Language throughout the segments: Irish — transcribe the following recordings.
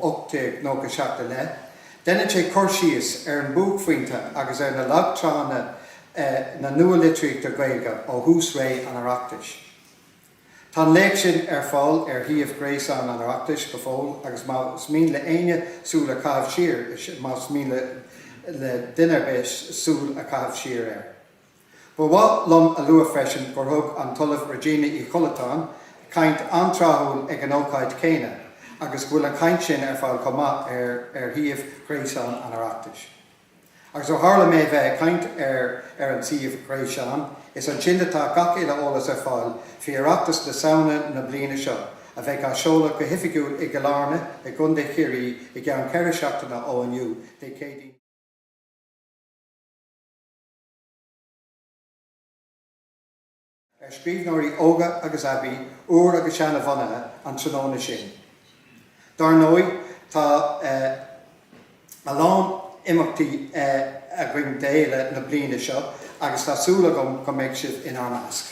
1897 i leith. Déanann sé cur síos ar an bhuaicphointe agus ar na lagtráthanna nua-litríochta Gaeilge ó thús ré an Oireachtais. Tá an léacht sin ar fáil ar shuíomh gréasáin an Oireachtais go fóill agus más mian le héinne súil a chaitheamh siar, más mian le duine ar bith súil a chaitheamh siar air. Ba mhaith liom a lua freisin gur thug an tOllamh Regina Uí Chollatáin caint an-tráthúil ag an ócáid chéanna agus go bhfuil an chaint sin ar fáil chomh maith ar shuíomh Gréasáin an Oireachtais. Agus ó tharla mé bheith ag caint ar ar an suíomh Gréasáin, is ansin atá gach uile eolas ar fáil faoi Oireachtas na Samhna na bliana seo, a bheidh á sheoladh go hoifigiúil i gCill Airne i gContae Chiarraí i gceann ceithre seachtaine ó inniu, Dé Céadaoin. ar scríbhneoirí óga agus aibí, úr agus seanbhunaithe an tráthnóna sin. Dar ndóigh, tá a lán imeachtaí againn d'fhéile na bliana seo agus tá súil agam go mbeidh sibh inár measc.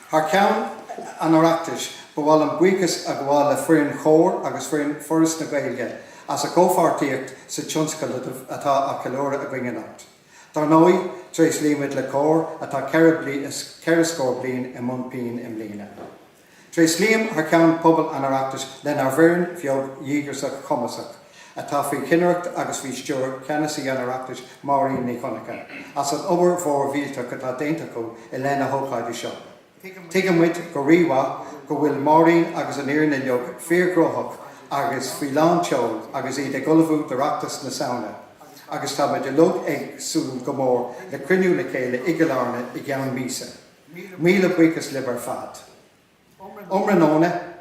Thar ceann an Oireachtais, ba mhaith liom buíochas a ghabháil le foireann Chomhar agus foireann Fhoras na Gaeilge as a gcomhpháirtíocht sa tionscadal atá á cheiliúradh againn anocht. Dar ndóigh, tréaslaímid le Comhar atá ceithre scór bliain i mbun pinn i mbliana. Tréaslaím thar ceann phobal an Oireachtais lenár bhfoireann bheag dhíograiseach chumasach, atá faoi chinnireacht agus faoi stiúir Cheannasaí an Oireachtais Máirín Nic Dhonnchadha, as an obair mhór mhillteach atá déanta acu i leith na hócáide seo. Tuigeann muid go rímhaith go bhfuil Máirín agus an fhoireann uilig fíorghnóthach agus faoi lán tseoil agus iad ag ullmhú d'Oireachtas na Samhna agus tá muid uilig ag súil go mór le cruinniú le chéile i gCill Airne i gceann míosa. Míle buíochas libh ar fad. Iomranóna.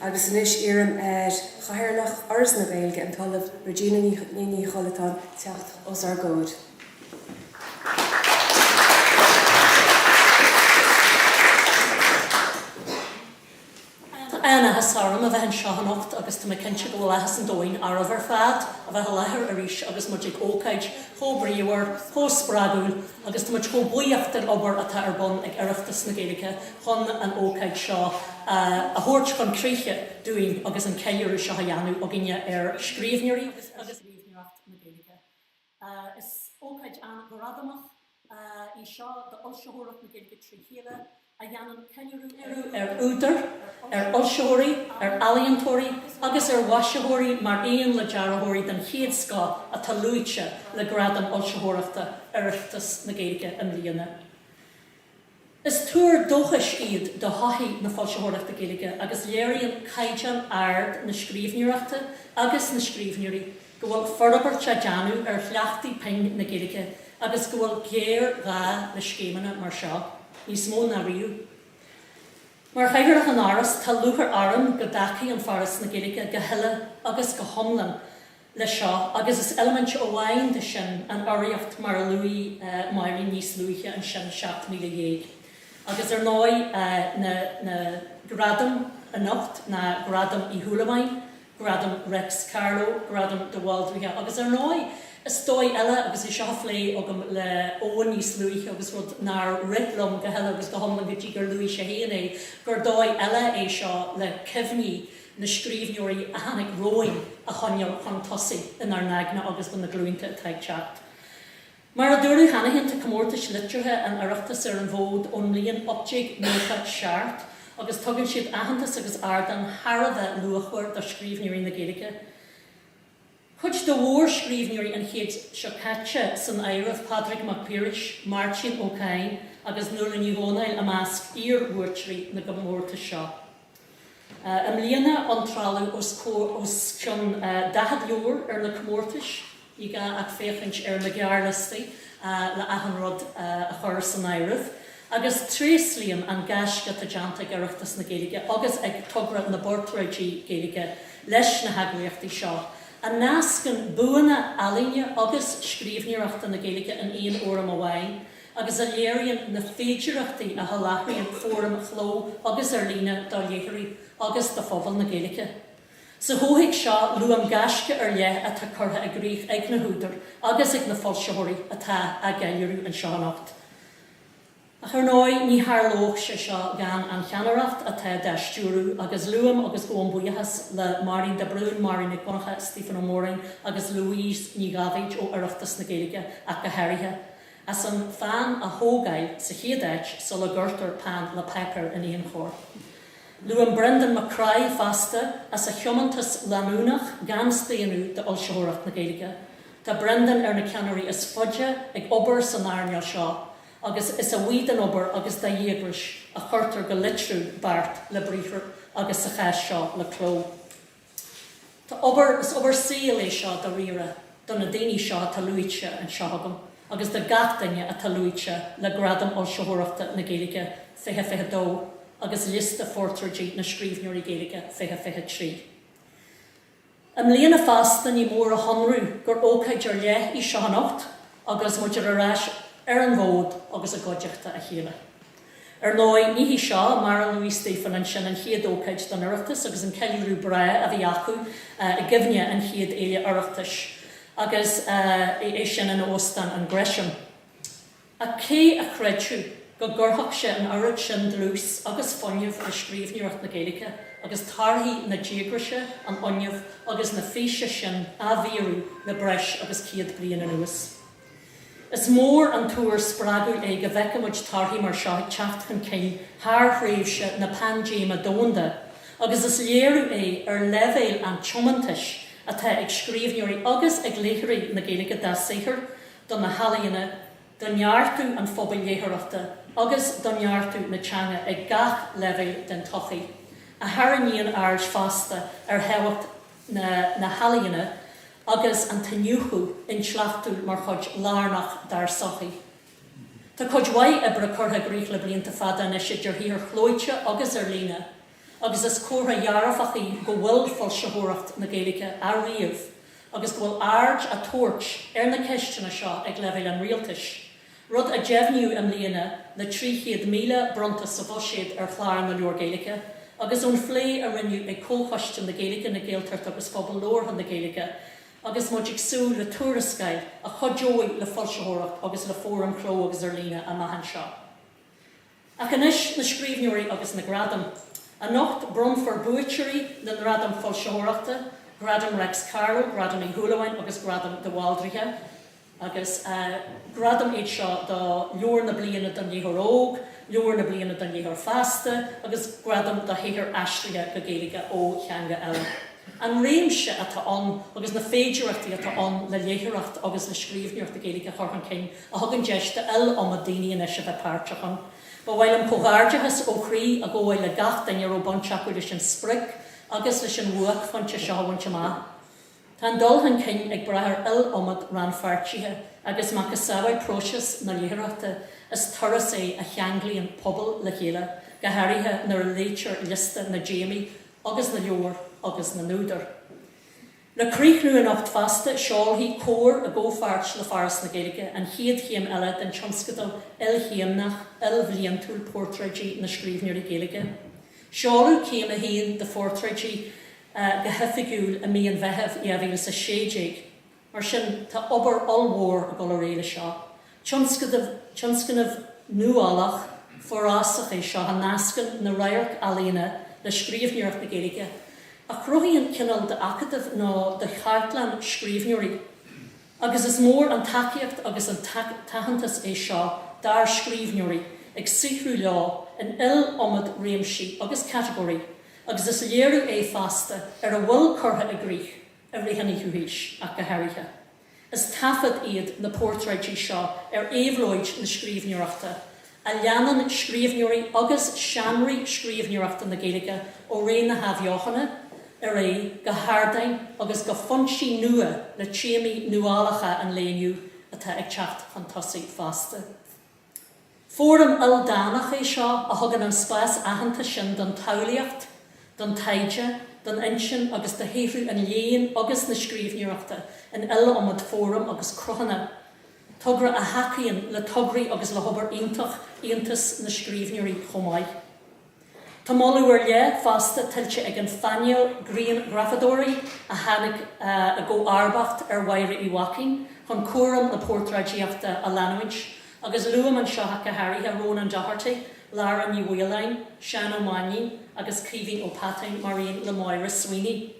agus anois iarraim ar Chathaoirleach Fhoras na Gaeilge, an tOllamh Regina Uí Chollatáin, teacht os ár gcomhair. Tá an-áthas orm a bheith anseo anocht agus tá mé cinnte go bhfuil áthas an domhain oraibh ar fad a bheith i láthair arís agus muid ag ócáid chomh bríomhar, chomh spreagúil agus tá muid chomh buíoch den obair atá ar bun ag Oireachtas na Gaeilge chun an ócáid seo a thabhairt chun críche dúinn agus an ceiliúradh seo a dhéanamh againne ar scríbhneoirí agus ar scríbhneoireacht na Gaeilge. Is ócáid an-ghradamach í seo d'fhoilsitheoireacht na Gaeilge trí chéile, a dhéanann ceiliúradh ar údair, ar fhoilsitheoirí, ar ealaíontóirí agus ar mhaisitheoirí mar aon le dearthóirí den chéad scoth atá luaite le gradaim fhoilsitheoireachta Oireachtas na Gaeilge i mbliana. Is tuar dóchais iad do thodhchaí na foilsitheoireachta Gaeilge agus léiríonn caighdeán ard na scríbhneoireachta agus na scríbhneoirí go bhfuil forbairt á déanamh ar chleachtaí pinn na Gaeilge agus go bhfuil géarghá le scéimeanna mar seo níos mó ná riamh. Mar Chathaoirleach an Fhoras, tá lúchair orm go dtacaíonn Foras na Gaeilge go huile agus go hiomlán leis seo, agus is eilimint amháin de sin an urraíocht mar luaigh Máirín níos luaithe ansin, 17,000. Agus ar ndóigh na na gradaim anocht ná Gradaim Uí Shúilleabháin, Gradaim Reics Carló, Gradaim de Bhaldraithe agus ar ndóigh is dóigh eile agus é seo a phlé agam le Eoghan níos luaithe agus rud nár rith liom go huile agus go hiomlán go dtí gur luaigh sé féin é, gur dóigh eile é seo le cuimhní na scríbhneoirí a tháinig romhainn a choinneáil chun tosaigh inár n-aigne agus do na glúnta atá ag teacht. Mar a dúradh cheana féin, tá comórtais liteartha an Oireachtais ar an bhfód ón mbliain 1897 agus tugann siad aitheantas agus ardán thar a bheith luachmhar do scríbhneoirí na Gaeilge. Cuid de mhórscríbhneoirí an chéid seo caite san áireamh, Pádraig Mac Piarais, Máirtín Ó Cadhain agus Nuala Ní Dhomhnaill i measc iar-bhuaiteoirí na gcomórtas seo. I mbliana iontráladh os cionn 40 leabhar ar na comórtais, ní gá ach féachaint ar na gearrliostaí le achan rud a chur san áireamh. agus tréaslaím an gaisce atá déanta ag Oireachtas na Gaeilge agus ag Togra na bPortráidí Gaeilge leis na heagraíochtaí seo, a nascann buanna ealaíne agus scríbhneoireachta na Gaeilge in aon fhóram amháin, agus a léiríonn na féidearthachtaí a sholáthraíonn fóraim chló agus ar líne do léitheoirí agus do phobal na Gaeilge. Sa chomhthéacs seo, luaim gaisce ar leith atá curtha i gcrích ag na húdair agus ag na foilsitheoirí atá á gceiliúradh anseo anocht. Ach ar ndóigh, ní tharlódh sé seo gan an cheannaireacht atá dá stiúradh, agus luaim agus gabhaim buíochas le Máirín de Brún, Máirín Nic Dhonncha, Stiofán Ó Móráin agus Louise Ní Dháibhéid ó Oireachtas na Gaeilge ach go háirithe, as an fheadhain a thógáil sa chéad áit sula gcuirtear peann le páipéar in aon chor. Luaim Brendan Mac Craith fosta as a thiomantas leanúnach gan staonadh d'fhoilsitheoireacht na Gaeilge. Tá Brendan ar na ceannairí is faide ag obair san earnáil seo agus is a bhuí dá obair agus dá dhíograis a chuirtear go liteartha beart le briathar agus sa chás seo le cló. Tá obair, is obair saoil é seo dáiríre do na daoine seo atá luaite anseo agam agus do gach duine atá luaite le Gradaim Fhoilsitheoireachta na Gaeilge 2022 agus Liosta Phortráidí na Scríbhneoirí Gaeilge 2023. I mbliana fosta ní mór a shonrú gur ócáid ar leith í seo anocht agus muid ar ais ar an bhfód agus i gcuideachta a chéile. Ar ndóigh ní hí seo, mar a luaigh Stiofán ansin, an chéad ócáid don Oireachtas agus an ceiliúradh breá a bhí acu i gcuimhne an chéad fhéile Oireachtais agus é sin in Óstán an Gresham. Ach cé a chreidfeadh go gcuirfeadh sé an oiread sin dlús agus fuinnimh i scríbhneoireacht na Gaeilge agus torthaí na díograise, an fhuinnimh agus na físe sin á bhfíorú le breis agus céad bliain anuas? Is mór an t-ábhar spreagúil é go bhfeicfidh muid torthaí mar seo ag teacht chun cinn thar thréimhse na paindéime domhanda agus is léiriú é ar leibhéal an tiomantais atá ag scríbhneoirí agus ag léitheoirí na Gaeilge dá saothar do na healaíona, do neartú an phobail léitheoireachta agus do neartú na teanga ag gach leibhéal den tsochaí, a tharraingíonn aird fosta ar thábhacht na na healaíona agus an t-iniúchadh intleachtúil mar chuid lárnach dár sochaí. Tá cuid mhaith oibre curtha i gcrích le blianta fada anois idir shaothair chlóite agus ar líne, agus is comhartha dhearfach í go bhfuil foilsitheoireacht na Gaeilge á ríomh agus go bhfuil aird á tabhairt ar na ceisteanna seo ag leibhéal an rialtais, rud a deimhníodh i mbliana le 300,000 bronnta sa bhuiséad ar Chlár na Leabhar Gaeilge agus ón phlé a rinneadh ag Comhchoiste na Gaeilge, na Gaeltachta agus Phobal Labhartha na Gaeilge agus muid ag súil le tuarascáil a chuideoidh le foilsitheoireacht agus le fóraim chló agus ar líne amach anseo. Ach anois, na scríbhneoirí agus na gradaim. Anocht, bronnfar buaiteoirí na nGradam Foilsitheoireachta, Gradam Reics Carló, Gradam Uí Shúilleabháin agus Gradam de Bhaldraithe. Agus gradaim iad seo do Leabhar na Bliana don Léitheoir Óg, Leabhar na Bliana don Léitheoir Fásta agus Gradam do Shaothar Aistrithe go Gaeilge ó Theanga Eile. An réimse atá ann agus na féidearthachtaí atá ann le léitheoireacht agus le scríbhneoireacht na Gaeilge a chur chun cinn, a thugann deis d'iliomad daoine anois a bheith páirteach ann. Ba mhaith liom comhghairdeachas ó chroí a ghabháil le gach duine a raibh baint acu leis an sprioc agus leis an bhuaicphointe seo a bhaint amach. Tá an dul chun cinn ag brath ar iliomad rannpháirtithe agus macasamhail próiseas na léitheoireachta is turas é a cheanglaíonn pobail le chéile, go háirithe nuair a léitear liosta na dtéamaí agus na leabhar agus na n-údar. Le críochnú anocht fosta, seolfaidh Comhar i gcomhpháirt le Foras na Gaeilge an chéad chéim eile den tionscadal ilchéimneach, ilbhliantúil Portráidí na Scríbhneoirí Gaeilge. Seoladh céim a haon de Phortráidí go hoifigiúil i mí an Mheithimh 2016, mar sin tá obair ollmhór ag dul ar aghaidh leis seo. Tionscadal, tionscnamh nuálach, forásach é seo a nascann na radharc-ealaíona le scríbhneoireacht na Gaeilge, a chruthaíonn cineál d'acadamh nó de chartlann scríbhneoirí, agus is mór an tacaíocht agus an t-aitheantas é seo dár scríbhneoirí ag saothrú leo in iliomad réimsí agus catagóirí agus is léiriú é fosta ar a bhfuil curtha i gcrích i rith an fhichiú haois ach go háirithe. Is taifead iad na portráidí seo ar éabhlóid na scríbhneoireachta, a leanann scríbhneoirí agus seánraí scríbhneoireachta na Gaeilge ó ré na hAthbheochana ar aghaidh, go hardáin agus go foinsí nua le téamaí nuálacha an lae inniu atá ag teacht chun tosaigh fosta. Fóram ildánach é seo a thugann an spás aitheanta sin don tsamhlaíocht, don taighde, don intinn agus do shaothrú an léinn agus na scríbhneoireachta in iliomad fóram agus cruthanna, togra a thacaíonn le tograí agus le hobair iontach Aontas na Scríbhneoirí chomh maith. Tá moladh ar leith fosta tuillte ag an phainéal grianghrafadóirí a tháinig i gcomharbacht ar Mháire Uí Mhaicín chun cúram na portráidíochta a leanúint, agus luaim anseo go háirithe Rónán Doherty, Lára Ní Mhaoláin, Seán Ó Mainnín agus Caoimhín Ó Peatáin mar aon le Maura Sweeney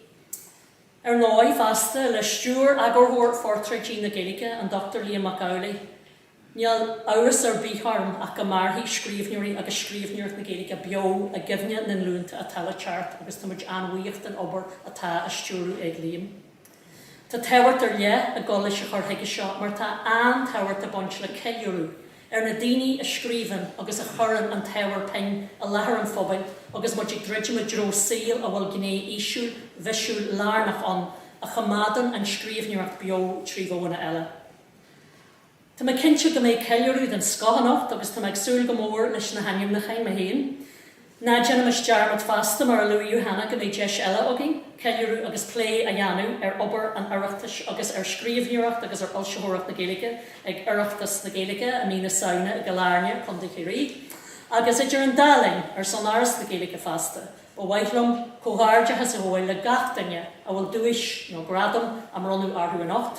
ar ndóigh fosta, le stiúir Eagarthóir Phortráidí na Gaeilge, an Dr Liam Mac Amhlaigh. Níl amhras ar bith orm ach go mairfidh scríbhneoirí agus scríbhneoireacht na Gaeilge beo i gcuimhne na nglúnta atá le teacht agus tá muid an-bhuíoch den obair atá á stiúradh ag Liam. Tá tábhacht ar leith ag dul leis an chur chuige seo mar tá an-tábhacht ag baint le ceiliúradh ar na daoine a scríobhann agus a chuireann an t-ábhar pinn i láthair an phobail agus muid ag druidim i dtreo saol a bhfuil gné fhísiúil lárnach ann a choimeádann an scríbhneoireacht beo trí mhodhanna eile. Tá mé cinnte go mbeidh ceiliúradh den scoth anocht agus tá mé ag súil go mór leis na hainmniúcháin mé féin. Ná déanaimis dearmad fosta, mar a luaigh Johanna, go mbeidh deis eile againn ceiliúradh agus plé a dhéanamh ar obair an Oireachtais agus ar scríbhneoireacht agus ar fhoilsitheoireacht na Gaeilge ag Oireachtas na Gaeilge i mí na Samhna i gCill Airne, Co. Chiarraí. Agus idir an dá linn, ar son Fhoras na Gaeilge fosta, ba mhaith liom comhghairdeachas a ghabháil le gach duine a bhfuil duais nó gradam á mbronnadh orthu anocht,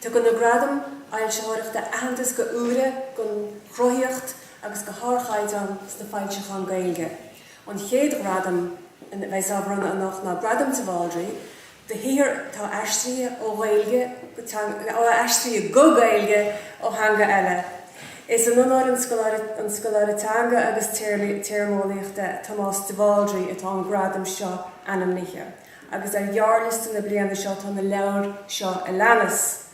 Tugann na Gradaim Fhoilsitheoireachta aitheantas do úire don chruthaíocht agus do ardchaighdeán sna foilseacháin Gaeilge. An chéad ghradam a bheas á bhronnadh anocht ná Gradam de Bhaldraithe do shaothar atá aistrithe ó Ghaeilge go teanga ó aistrithe go Gaeilge ó theanga eile. Is in onóir an scoláire an scoláire teanga agus téarmaí téarmeolaíochta Tomás de Bhaldraithe atá an gradam seo ainmnithe. agus ar ghearrliosta na bliana seo tá na leabhair seo a leanas,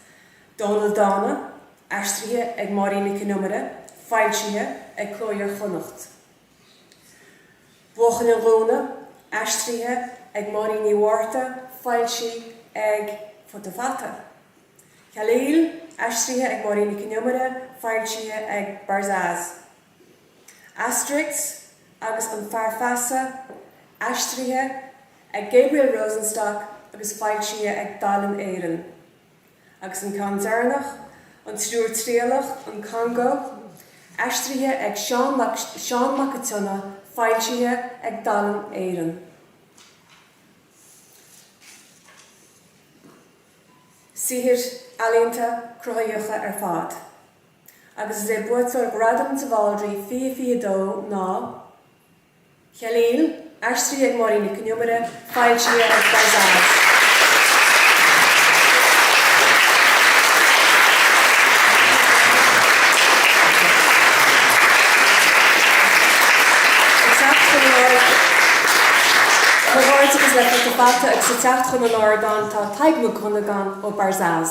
Dónall Dána, aistrithe ag Máirín Nic Con Iomaire, foilsithe ag Cló Iar-Chonnacht, Buachaill an Ghúna, aistrithe ag Máirín Ní Mhárta, foilsithe ag Futa Fata, Khalil, aistrithe ag Máirín Nic Con Iomaire, foilsithe ag Barzaz. Asterix agus an Fear Feasa, aistrithe ag Gabriel Rosenstock agus foilsithe ag Dalen Éireann, agus an ceann deireanach, An Triúr Triallach, An Congó, aistrithe ag Seán Mac an tSionnaigh, foilsithe ag Dalen Éireann. Saothair ealaíonta, cruthaitheacha ar fad. agus is é buaiteoir Ghradam de Bhaldraithe fiche fiche dó ná Khalil, aistrithe ag Máirín Nic Con Iomaire, foilsithe ag Barzaz. Agus ag teacht chun an ardáin tá Tadhg Mac Dhonnagáin ó Barzaz.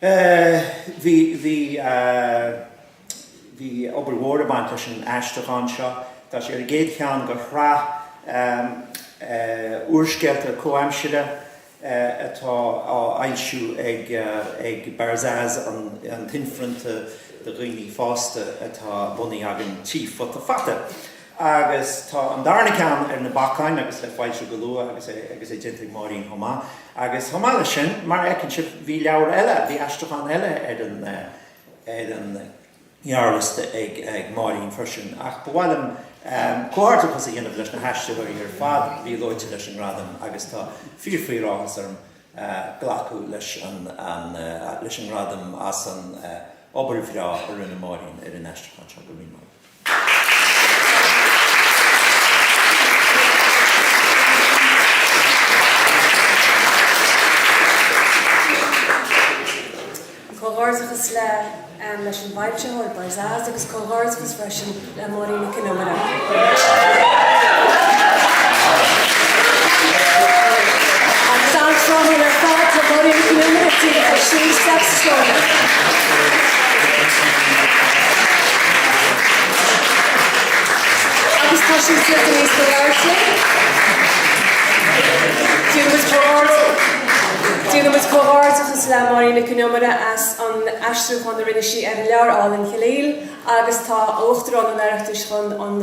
Bhí, bhí, bhí, bhí obair mhór ag baint leis an aistriúchán seo. Tá sé ar an gcéad cheann de shraith úrscéalta comhaimsire atá á fhoilsiú ag, ag Barzaz, an, an t-inphrionta do dhaoine fásta atá bunaithe againn tigh Futa Fata. Agus tá an darna ceann ar na bacáin agus le foilsiú go luath agus é agus é déanta ag Máirín chomh maith. Agus chomh maith leis sin, mar a fheiceann sibh, bhí leabhar eile, bhí aistriúchán eile ar an, ar an ngearrliosta ag Máirín freisin. Ach ba mhaith liom comhghairdeachas a dhéanamh leis na haistritheoirí ar fad a bhí luaite leis an ngradam agus tá fíorfíoráthas orm glacadh leis an, leis an ngradam as an obair bhreá a rinne Máirín ar an aistriúchán seo. Go raibh míle maith agat. Comhghairdeachas le leis an bhfoilsitheoir, Barzaz, agus comhghairdeachas freisin le Máirín Nic Con Iomaire. Agus tá siad suite níos go leor sin, déanaimid comhghairdeachas, déanaimid comhghairdeachas le Máirín Nic Con Iomaire as an aistriúchán a rinne sí ar an leabhar álainn Khalil agus tá Uachtarán an Oireachtais chun an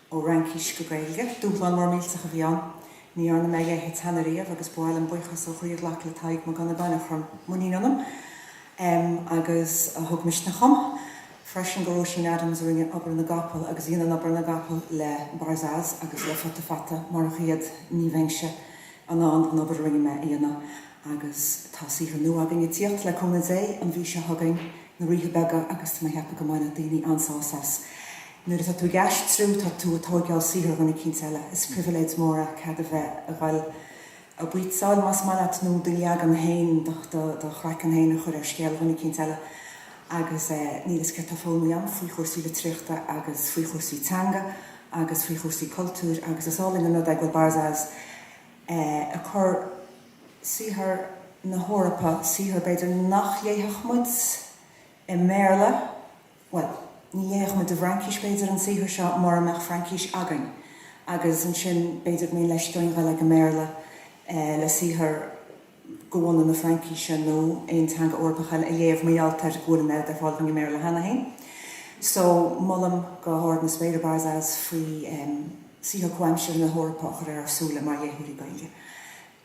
Ó Fhraincis go Gaeilge. Dúshlán mór millteach a bhí ann. Ní dhearna mé a leithéid cheana riamh agus ba mhaith liom buíochas ó chroí a ghlacadh le Tadhg Mac Dhonnagáin a chuir muinín ionam agus a thug misneach dhom, freisin go Róisín Adams a rinne obair na gcapall agus a dhéanann obair na gcapall le Barzaz agus le Futa Fata, murach iad ní bheinnse in ann an obair a rinne mé a dhéanamh. Agus tá saothar nua againn ag tíocht le cúnamh Dé an mhí seo chugainn, Na Ríthe Beaga agus tá mé ag ceapadh go mbainfidh daoine an-sásamh as. Nuair atá tú ag aistriú, tá tú ag tóigeáil saothar dhuine eicínt eile. Is pribhléid mór é cead a bheith a dhoil a bhaoitseáil, más maith leat, nó do leagan féin, do do chraiceann féin a chur ar scéal dhuine eicínt eile. Agus níl a fhios céard atá foghlamtha agam faoi chúrsaí litríochta agus faoi chúrsaí teanga agus faoi chúrsaí cultúir agus is álainn an rud é go bhfuil Barzaz ag cur saothar na hEorpa, saothar b'fhéidir nach léifeadh muid i mBéarla. Bhuel, ní léifeadh muid i bhFraincis, b'fhéidir, an saothar seo mura mbeadh Fraincis againn, agus ansin, b'fhéidir go mbíonn leisce orainn a dhul chuig an mBéarla le saothar de bhunadh na Fraincise nó aon teanga Eorpach eile a léamh, mar gheall ar go bhfuil an oiread ar fáil againn i mBéarla cheana féin. So, molaim go hard na spéire Barzaz faoi saothar comhaimseartha na hEorpa a chur ar ár súile mar léitheoirí Gaeilge.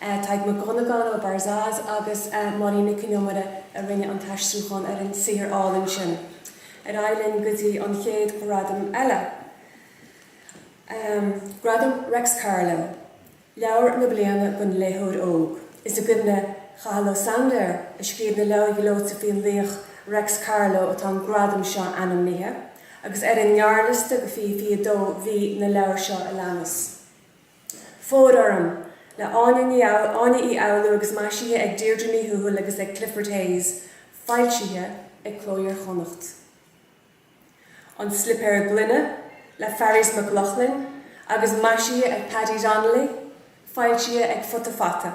Tadhg Mac Dhonnagáin ó Barzaz agus Máirín Nic Con Iomaire a rinne an t-aistriúchán ar an saothar álainn sin. Ar aghaidh linn go dtí an chéad ghradam eile, Gradam Reics Carló, Leabhar na Bliana don Léitheoir Óg. Is i gcuimhne Chathal Ó Sándair, a scríobh na leabhair ghleoite faoin laoch Reics Carló atá an gradam seo ainmnithe, agus ar an ngearrliosta do 2022 bhí na leabhair seo a leanas, Fóir orm! le Áine Ní Áine Uí Fhoghlú agus maisithe ag Deirdre Ní Thuathail agus ag Clifford Hayes, foilsithe ag Cló Iar-Chonnacht. An Slipéar Gloine le Fearghas Mac Lochlainn agus maisithe ag Paddy Donnelly, foilsithe ag Futa Fata.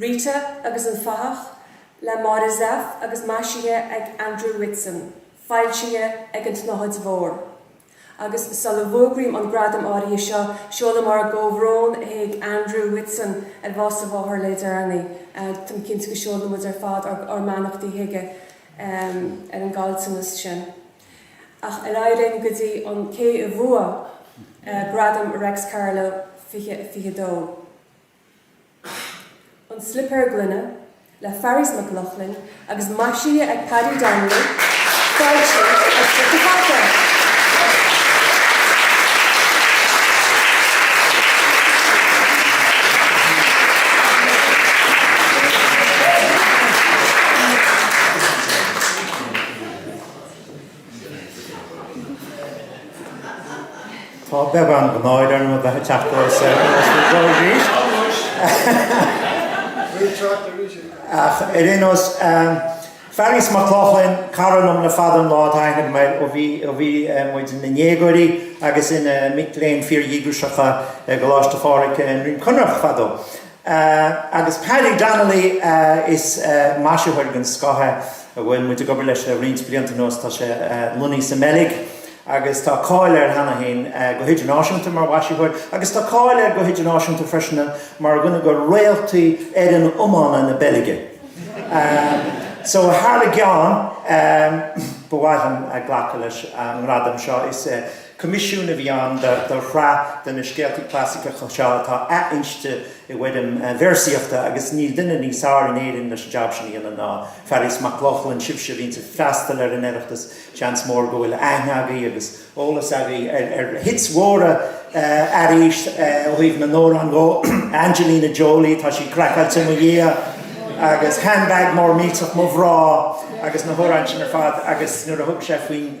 Rita agus an Fathach, le Máire Zepf agus maisithe ag Andrew Whitson, foilsithe ag An tSnáthaid Mhór. Agus sula bhfógraím an gradam áirithe seo, seolaim ár gcomhbhrón chuig Andrew Whitson ar bhás a mháthar le deireanaí. Táim cinnte go seolann muid ar fad ár mbeannachtaí chuige ar an gcaillteanas sin. Ach ar aghaidh linn go dtí an té a bhuaigh Gradam Reics Carló 2022. An Slipéar Gloine le Fearghas Mac Lochlainn agus maisithe ag Paddy Donnelly, foilsithe ag Futa Fata. Tá beagán náire orm a bheith ag teacht anuas ar an gclár arís, ach ar aon nós, Fearghas Mac Lochlainn, cara liom le fada an lá atá aithne agam air, ó bhí muid ina ndéagóirí agus ina mic léinn fíordhíograiseacha i gColáiste Phádraig i nDroim Conrach fadó. Sea, agus Paddy Donnelly, is maisitheoir den scoth é, a bhfuil muid ag obair leis le roinnt blianta anuas, tá sé lonnaithe sa mBeilg agus tá cáil air cheana féin go hidirnáisiúnta mar mhaisitheoir agus tá cáil air go hidirnáisiúnta freisin mar dhuine de réaltaí fhoireann iomána na Beilge. So, thar a gceann, ba mhaith liom glacadh leis an ngradam seo. Is. Coimisiún a bhí ann do shraith de na scéalta clasaiceacha seo atá athinste i bhfoirm véarsaíochta agus níl duine níos fearr in Éirinn leis an jab sin a dhéanamh ná Fearghas Mac Lochlainn. Sibhse a bhíonns ag freastal ar an Oireachtas, seans mór go bhfuil aithne agaibh agus eolas agaibh ar hits mhóra Fhearghaís ó thaobh na n-amhrán dhó, Angelina Jolie, Tá sí Craiceáilte i Mo Dhiaidh agus Handbag Mór Millteach Mo Ghrá agus na hamhráin sin ar fad agus nuair a thug sé faoin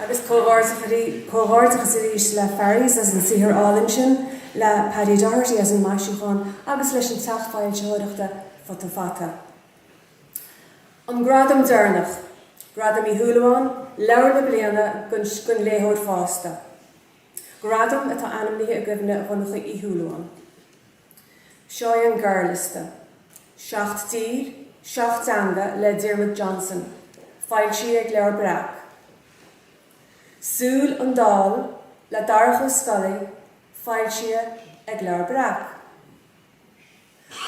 Agus comhghairdeachas arís le Fearghas as an saothar álainn sin, le Paddy Doherty as an maisiúchán agus leis an teach foilsitheoireachta Futa Fata. An gradam deireanach, Gradam Uí Shúilleabháin, Leabhar na Bliana don Léitheoir Fásta. Gradam atá ainmnithe i gcuimhne Dhonncha Uí Shúilleabháin. Seo é an gearrliosta. Seacht dTír, Seacht dTeanga le Diarmuid Johnson, foilsithe ag Leabhar Breac. Súil an Daill le Darach Ó Scolaí, foilsithe ag Leabhar Breac.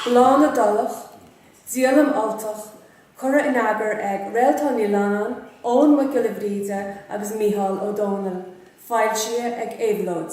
Bláth na na dTulach, díolaim Ultach, curtha in eagar ag Réaltán Ní Leannáin, Eoghan Mac Giolla Bhríde agus Micheál Ó Domhnaill, foilsithe ag Éabhlóid.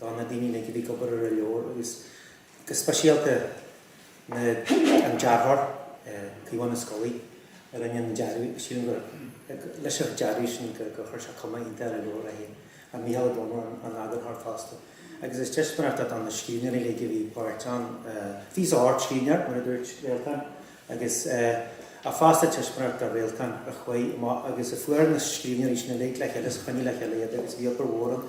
do na daoine uilig a bhí ag obair ar an leabhar agus go speisialta don dearthóir, Caomhán Ó Scolaí, a rinne an dearadh. Sílim gur leis an dearadh sin go go chuir sé cuma iontach ar an leabhar é fhéin. An Mícheál Ó Dónaill an eagarthóir fosta agus is aitheantas é do na scríbhneoirí uilig a bhí páirteach ann. Bhí ocht scríbhneoir, mar a dúirt Réaltán, agus ach fosta aitheantas do Réaltán a chuaigh amach agus a fuair na scríbhneoirí sin uilig le chéile is a choinnigh le chéile iad agus bhí obair mhór ann.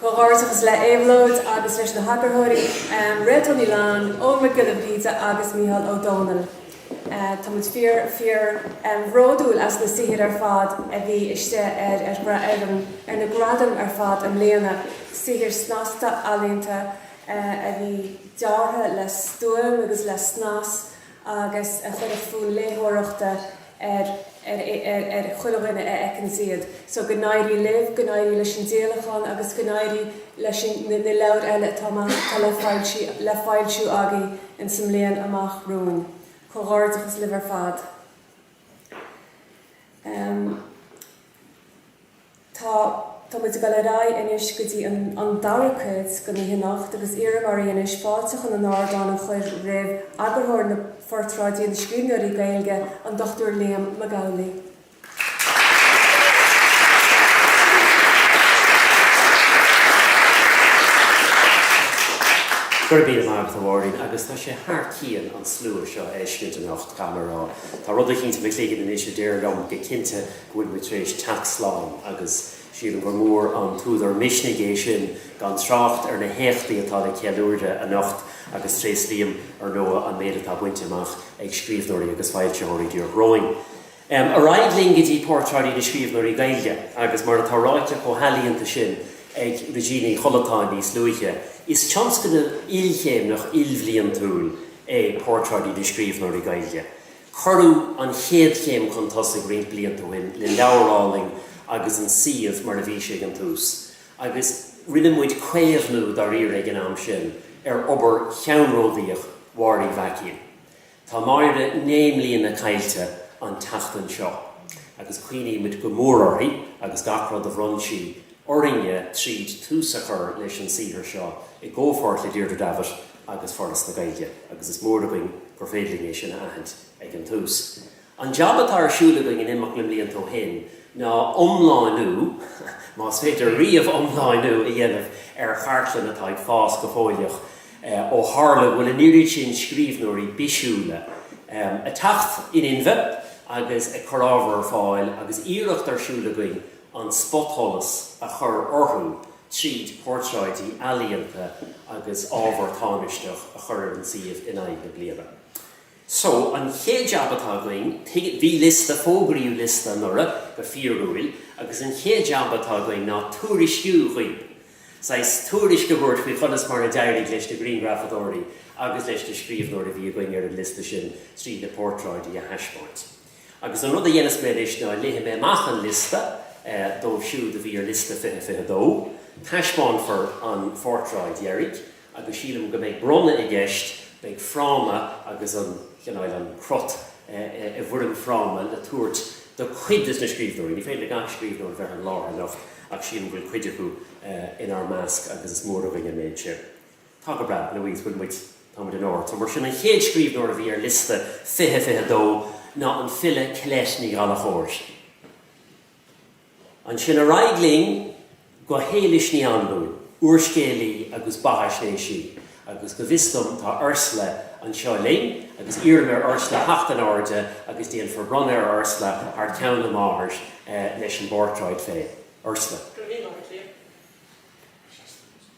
Comhghairdeachas le Éabhlóid agus leis na heagarthóirí, Réaltán Ní Leannáin, Eoghan Mac Giolla Bhríde agus Micheál Ó Domhnaill. Tá muid fíor, fíor bhródúil as na saothair ar fad a bhí istigh ar ar na gradaim ar fad i mbliana. Saothair snasta, ealaíonta a bhí deartha le stuaim agus le snas. agus a chuirfeadh fonn léitheoireachta ar chuile dhuine a fheiceanns iad. So go n-éirí libh, go n-éirí leis an díolachán agus go n-éirí leis na leabhair eile atá amach atá le foilsiú, le foilsiú agaibh in sa mbliain amach romhainn. Comhghairdeachas libh ar fad. Tá. Tá muid ag dul ar aghaidh anois go dtí an an dara cuid de na himeachtaí agus iarraim oraibh anois fáilte chun an ardán a chur roimh eagarthóir na Phortráidí na Scríbhneoirí Gaeilge, an Dr Liam Mac Amhlaigh. Gura míle maith agat a Mháirín, agus tá sé thar cionn an slua seo a fheiscint anocht, caithfidh mé a rá. Tá rud eicínt i mo chloigeann anois a deir liom go cinnte go bhfuil muid tar éis teacht slán agus sílim gur mór an t-údar misnigh é sin gan trácht ar na héachtaí atá le ceiliúradh anocht agus tréaslaím, ar ndóigh, an méid atá bainte amach ag scríbhneoirí agus foilsitheoirí díreach romhainn. Ar aghaidh linn go dtí Portráidí na Scríbhneoirí Gaeilge agus mar atá ráite chomh healaíonta sin ag Regina Uí Chollatáin níos luaithe, is tionscnamh ilchéimneach ilbhliantúil é Portráidí na Scríbhneoirí Gaeilge. Cuireadh an chéad chéim chun tosaigh roinnt blianta ó shin le leabhar álainn agus an suíomh mar a bhí sé ag an tús, agus rinne muid caomhnú dáiríre ag an am sin ar obair cheannródaíoch Mháire Uí Mhaicín. Tá Máire naoi mbliana caillte an tseachtain seo, agus cuimhnímid go mór uirthi agus gach rud a bhronn sí orainne tríd tús a chur leis an saothar seo i gcomhpháirt le Deirdre Davitt, agus Foras na Gaeilge agus is mór againn gur féidir linn é sin a aithint ag an tús. An jab atá ar siúl againn in imeacht na mblianta ó shin ná iomlánú, más féidir riamh iomlánú a dhéanamh ar chartlann atá ag fás go fóilleach, ó tharla go bhfuil an oiread sin scríbhneoirí bisiúla ag teacht in inmhe agus ag cur ábhar ar fáil agus iarracht ar siúl againn an spotsholas a chur orthu. tríd portráidí ealaíonta agus ábhar tánaisteach a chur ar an suíomh in aghaidh na bliana. So, an chéad jab atá againn, bhí liosta, fógraíodh liosta anuraidh, go fíorúil, agus an chéad jab atá againn ná tuairisciú dhaoibh, saghas tuairisc a thabhairt faoi chonas mar a d'éirigh leis na grianghrafadóirí agus leis na scríbhneoirí a bhí againn ar an liosta sin tríd na portráidí a thaispeáint. Agus an rud a dhéanas mé anois ná léifidh mé amach an liosta dóibh siúd a bhí ar liosta 2022. Taispeánfar an phortráid dheiridh agus sílim go mbeidh bronnadh i gceist, beidh fráma agus an, chineál, an crot i bhfoirm fráma le tabhairt do chuid de na scríbhneoirí. Ní féidir le gach scríbhneoir a bheith ar an láthair anocht ach sílim go bhfuil cuid acu inár measc agus is mór againn an méid sin. Tá go breá, a Louise, bhfuil muid, tá muid in ord. So, mar sin, an chéad scríbhneoir a bhí ar liosta 2022 ná an file Colette Ní Ghallachóir. Ansin ar aghaidh linn go hÉilis Ní Anluain, úrscéalaí agus beathaisnéisí, agus go bhfios dom tá Ursula anseo linn, agus iarraim ar Ursula theacht in airde agus déanfar bronnadh ar Ursula thar ceann a máthar leis an bportráid féin. Ursula. Go raibh míle maith agat, Liam.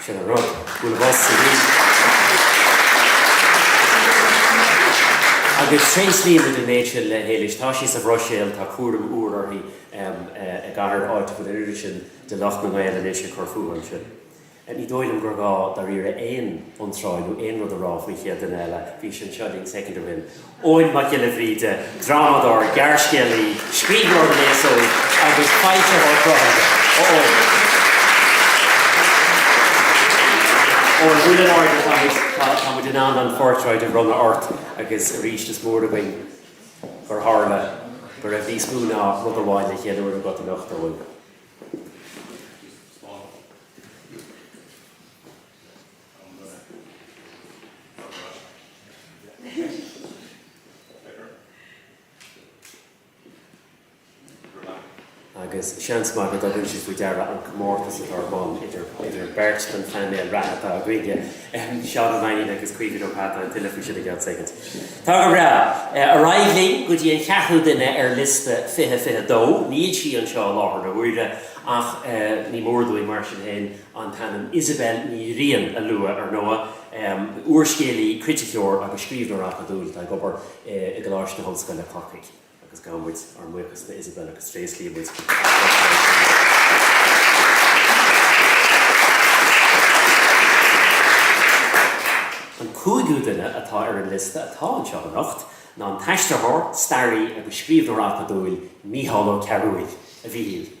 Sin an rud. Bhfuil a fhios ag Aoife. Agus tréaslaímid an méid sin le hÉilis. Tá sí sa Bhruiséil, tá cúram úr uirthi i gcathair áit a bhfuil an oiread sin de lucht na Gaeilge anois ag cur fúthu ansin. Ní dóigh liom gur gá dáiríre aon iontráil nó aon rud a rá faoin chéad duine eile, bhí sé anseo linn soicind ó shin. Eoghan Mac Giolla Bhríde, drámadóir, gearrscéalaí, scríbhneoir don aos óg agus foilsitheoir cruthaithe, a Eoghain. Ó buail in airde, tá muid, tá tá muid in ann an phortráid a bhronnadh ort agus arís is mór againn gur tharla go raibh níos mó ná rud amháin le ceiliúradh agat anocht, a Eoghain. agus seans maith go dtugann siad faoi deara an comórtas atá ar bun idir beirt den phainéal reatha atá againne, Seán Ó Mainnín agus Caoimhín Ó hAta, ach tuilleadh faoi sin i gceann soicind. Tá go breá. Ar aghaidh linn go dtí an ceathrú duine ar liosta 2022. Níl sí anseo i láthair na huaire, ach ní mór dúinn, mar sin féin, an t-ainm Isobel Ní Riain a lua, ar ndóigh, úrscéalaí, criticeoir agus scríbhneoir acadúil atá ag obair i gColáiste na hOllscoile, Corcaigh, agus gabhann muid ár mbuíochas do Isobel agus tréaslaímid a cuid gradam léi. An cúigiú duine atá ar an liosta atá anseo anocht ná an t-aistritheoir, staraí agus scríbhneoir acadúil Mícheál Ó Cearbhaill, a Mhíchíl.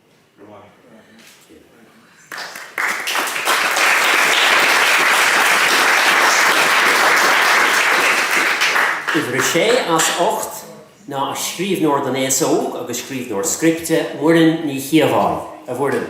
Uimhir a sé as ocht ná an scríbhneoir don aos óg agus scríbhneoir scripte, Muireann Ní Chíobháin. A Mhuireann.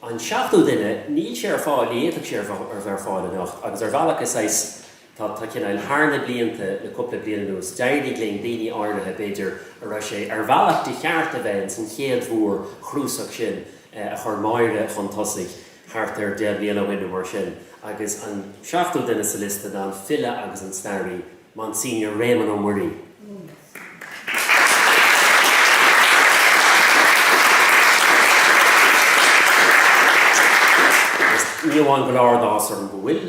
An seachtú duine, níl sé ar fáil, ní fhéadfadh sé a bheith ar fáil anocht agus ar bhealach is saghas, tá, tá cineál, thar na blianta, le cúpla bliain anuas, d'éirigh linn daoine áirithe b'fhéidir a raibh sé ar bhealach de cheart a bheith ins an chéad mhórchnuasach sin a chuir Máire chun tosaigh thart ar deich mbliana ó shin nó mar sin agus an seachtú duine sa liosta ná an file agus an staraí Monsignor Réamonn Ó Muirí. Agus ní amháin go bhfuil áthas orm go bhfuil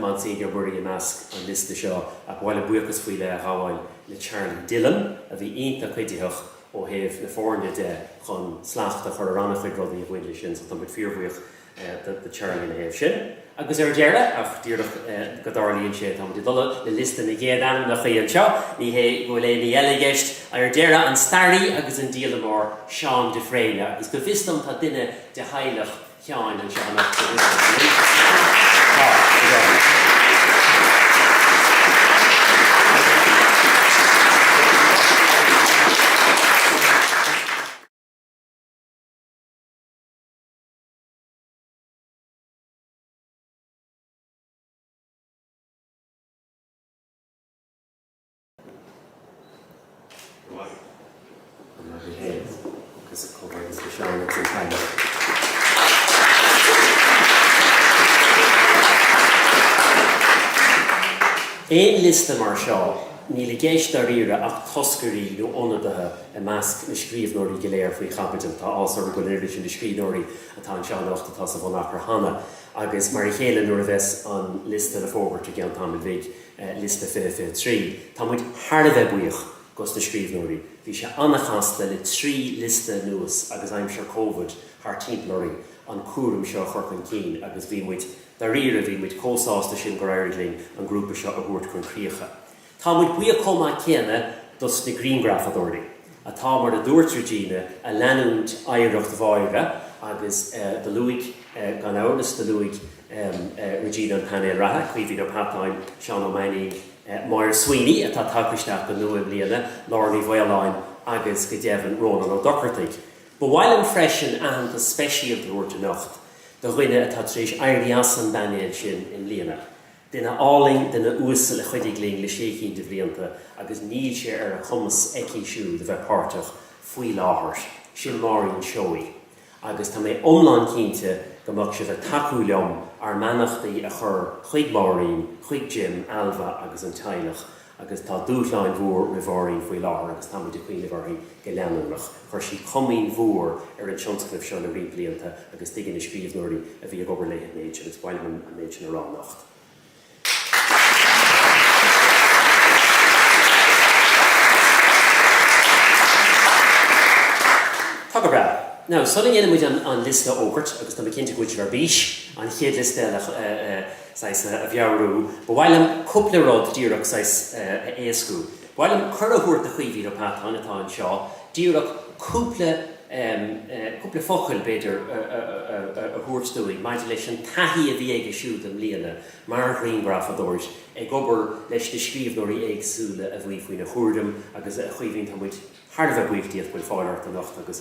Monsignor Muirí i measc an liosta seo, ach ba mhaith liom buíochas faoi leith a ghabháil le Charlie Dillon, a bhí iontach cuiditheach ó thaobh na foirne de chun slacht a chur ar an-chuid rudaí a bhain leis sin, so tá muid fíorbhuíoch do Charlie ina thaobh sin. Agus ar deireadh, ach díreach go dtarlaíonn sé, táimid ag dul de réir liosta na gcéad ainmneacha anseo, ní hé go bhfuil aon ní eile i gceist, ar deireadh, an staraí agus an díolamóir Seán de Fréine, agus go bhfios dom tá duine de theaghlach Sheáin anseo anocht, go bhfios dom, an bhfuil? Tá, go deimhin. Aon liosta mar seo, níl i gceist dáiríre ach toscairí nó ionadaithe I measc na scríbhneoirí go léir faoi chaibidil, tá áthas orm go n-oirfidh na scríbhneoirí atá anseo anocht atá sa bhunachar cheana, agus mar a chéile nuair a bheas an liosta le fógairt i gceann tamaill bhig, liosta 2023. Tá muid thar a bheith buíoch dos na scríbhneoirí. Bhí sé an-chasta le trí liosta anuas agus aimsir Covid thart timpeall orainn an cúram seo a chur chun cinn agus bhí muid, dáiríre, bhí muid chomh sásta sin gur éirigh linn an grúpa seo a thabhairt chun críocha. Tá muid buíoch chomh maith céanna dos na grianghrafadóirí atá, mar a dúirt Regina, a leanúint oidhreacht Mháire agus do luaigh, gan amhras, do luaigh Regina an painéal reatha, Caoimhín Ó Peatáin, Seán Ó Mainnín, Moira Sweeney atá tagtha isteach go nua i mbliana, Lára Ní Mhaoláin agus go deimhin Rónán Ó Dochartaigh. Ba mhaith liom freisin aitheantas speisialta a thabhairt anocht do dhuine atá tar éis éirí as an bpainéal sin i mbliana, Duine álainn, duine uasal a chuidigh linn le sé chinn de bhlianta agus níl sé ar a cumas aici siúd a bheith páirteach faoi láthair, sin Máirín Seoighe agus tá mé iomlán cinnte go mbeadh sibh ag tacú liom ár mbeannachtaí a chur chuig Máirín, chuig Jim, Ailbhe agus an teaghlach agus tá dúshláin mhóra roimh Mháirín faoi láthair agus táimid ag cuimhneamh uirthi go leanúnach. Chuir sí comaoin mhór ar an tionscnamh seo le roinnt blianta agus tuigeann na scríbhneoirí a bhí ag obair léi an méid sin agus ba mhaith liom an méid sin a rá anocht. Tá go breá. Now, sula ndéanfaimid an liosta a fhógairt, agus tá mé cinnte go bhfuil sibh ar bís, an chéad liosta eile, saghas a mheabhrú. Ba mhaith liom cúpla rud díreach saghas a éascú. Ba mhaith liom cuireadh a thabhairt do Chaoimhín Ó Peatáin atá anseo díreach cúpla cúpla focail b'fhéidir a thabhairt dúinn maidir leis an taithí a bhí aige siúd i mbliana mar ghrianghrafadóir ag obair leis na scríbhneoirí éagsúla a bhí faoina chúram agus a Chaoimhín tá muid thar a bheith buíoch díot go bhfuil fáil ort anocht agus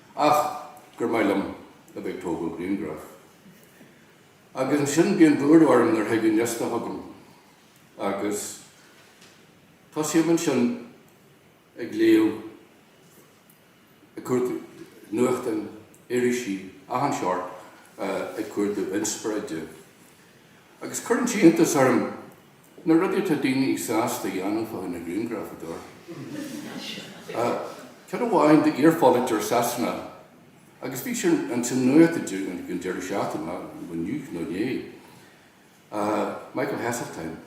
Ach gur maith liom a bheith ag tógáil grianghraif. Agus ansin bíonn lúcháir orm nuair a thig an liosta chugam agus tosaím ansin ag léamh ag cuardú nuachtáin, irisí, achan seort ag cuardú inspioráide. Agus cuireann sé iontas orm. Na rudaí atá daoine sásta a dhéanamh do na grianghrafadóirí. Ceann amháin d'iarpholaiteoir Sasanach agus bhí sé ins an nuacht an deireadh seachtaine, inniu nó inné, Michael Heseltine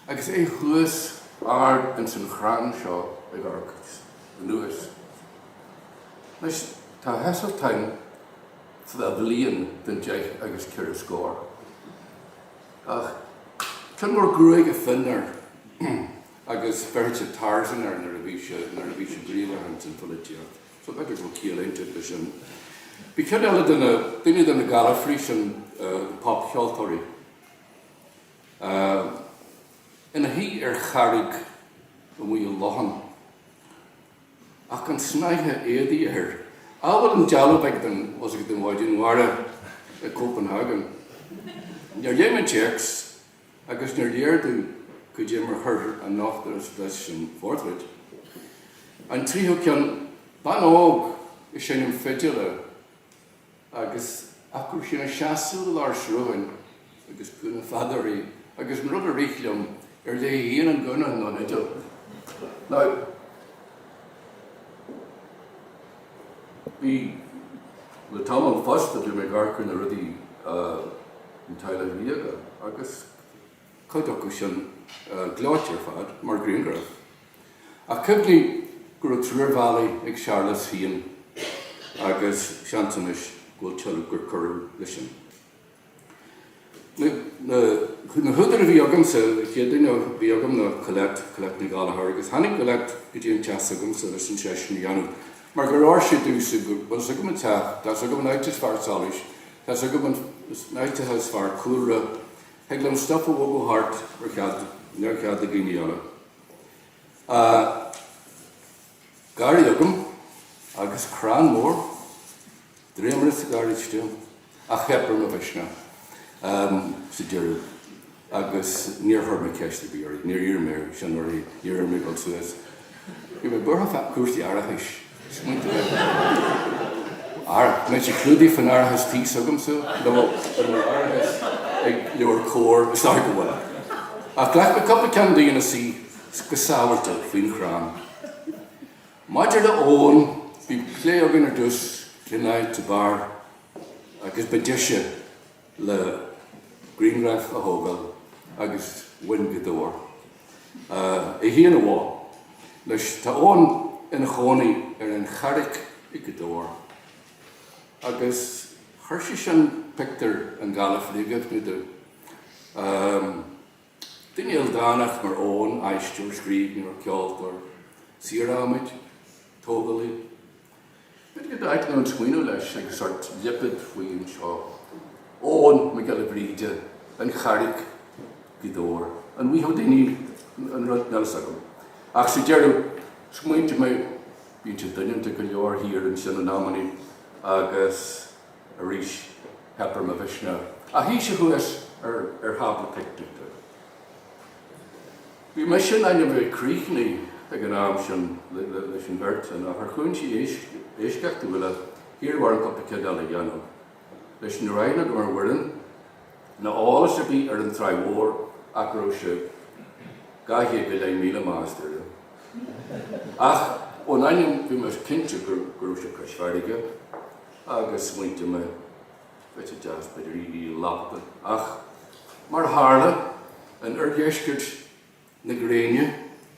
agus é thuas ard ins an chrann seo ag amharc anuas. Anois tá Heseltine fá bhliain den deich agus ceithre scór. Ach tom mór gruaige fionn air agus bheirtí Tarzan air nuair a bhí sé, nuair a bhí sé gníomhach ins an pholaitíocht. So b'fhéidir go bhfuil ciall inteacht leis sin. Bhí ceann eile de na, duine de na galfairí sin, popcheoltóirí, ina shuí ar charraig amuigh i lochán. ach gan snáithe éadaí air, amhail an dealbh úd den, bhfuil 's agat, den Mhaighdean Mhara i gCopenhagen. Níor léigh mé an téacs agus níor léir dom cad é mar chuir an nochtadh leis an phortráid. An tríú ceann, bean óg ag seinm fidile. agus ach ise ina seasamh i lár srutháin agus gúna fada uirthi, agus an rud a rith liom, ar léi féin an gúna, an fhidil? Now, bhí, le tamall fosta, bhí mé ag amharc ar na rudaí, an Teaghlach Ríoga, agus cuid acu sin gleoite ar fad, mar ghrianghraif. Ach cuimhnigh go raibh triúr valet ag Séarlas féin agus seans anois go bhfuil tuilleadh gur cuireadh leis sin. Na húdair a bhí agamsa, an chéad duine a bhí agam ná Colette, Colette Ní Ghallchóir, agus tháinig Colette go dtí an teach s'agamsa leis an seisiún a dhéanamh, mar gur oir sé di, is go bhfuil 's agam an teach, tá's agam an áit is fearr solais, tá's agam an áit atá is fearr cúlra, Thig liom stuif a bhogadh thart ar neamhchead do dhaoine eile. Tá garraí agam agus crann mór, dréimire sa gharáiste ach theip ar mo mhisneach sa deireadh agus níor chuir mé ceist ar bith uirthi, níor iarr mé sin uirthi, níor iarr mé a ghabháil suas Bhí mé buartha fá chúrsaí árachais. Smaointigh ar an náire. An mbeidh sé clúdaithe faoin árachas tí s'agamsa nó an bhfuil árachas ag Leabhair Comhar? Is dóigh go bhfuil. Ach ghlac mé cúpla ceann di ina suí go sábháilte faoin chrann. Maidir le Eoin, bhí plé againn ar dtús faoin áit a b'fhearr agus ba deise le grianghraif a thógáil agus ba i nGaoth Dobhair a théinn amach leis. Tá Eoghan ina chónaí ar an Charraig i nGaoth Dobhair agus chuir sé sin pictiúr an Ghaillimh faoi agat nó dó. Duine ildánach mar Eoghan, aisteoir, scríbhneoir, ceoltóir, saor adhmaid, tógálaí, B'fhéidir go dtaitneodh an smaoineamh leis ag sórt lipéad faoi anseo, Eoghan Mac Giolla Bhríde, An Charraig, Gaoth Dobhair, an Mhí Houdini, nó rud, níl a fhios agam, ach sa deireadh, smaointigh mé, bíonn sé doineanta go leor thiar ansin in amannaí, agus arís, theip ar mo mhisneach, ach sheas sé thuas ar thábla picnice. Bhí mise in ainm a bheith críochnaithe ag an am sin leis an bheart sin, ach ar chúinsí éisceachtúla iarradh orm portráid eile a dhéanamh. Anois ní raibh aithne agam ar Mhuireann ná eolas ar bith ar an Tráigh Mhór ach go raibh sé dhá chéad go leith míle d'aistear. Ach ón ainm bhí mé cinnte go raibh sé cois farraige agus smaointigh mé, Pictiúr deas b'fhéidir í ag lapadaíl, ach mar a tharla in oirdheisceart na gréine,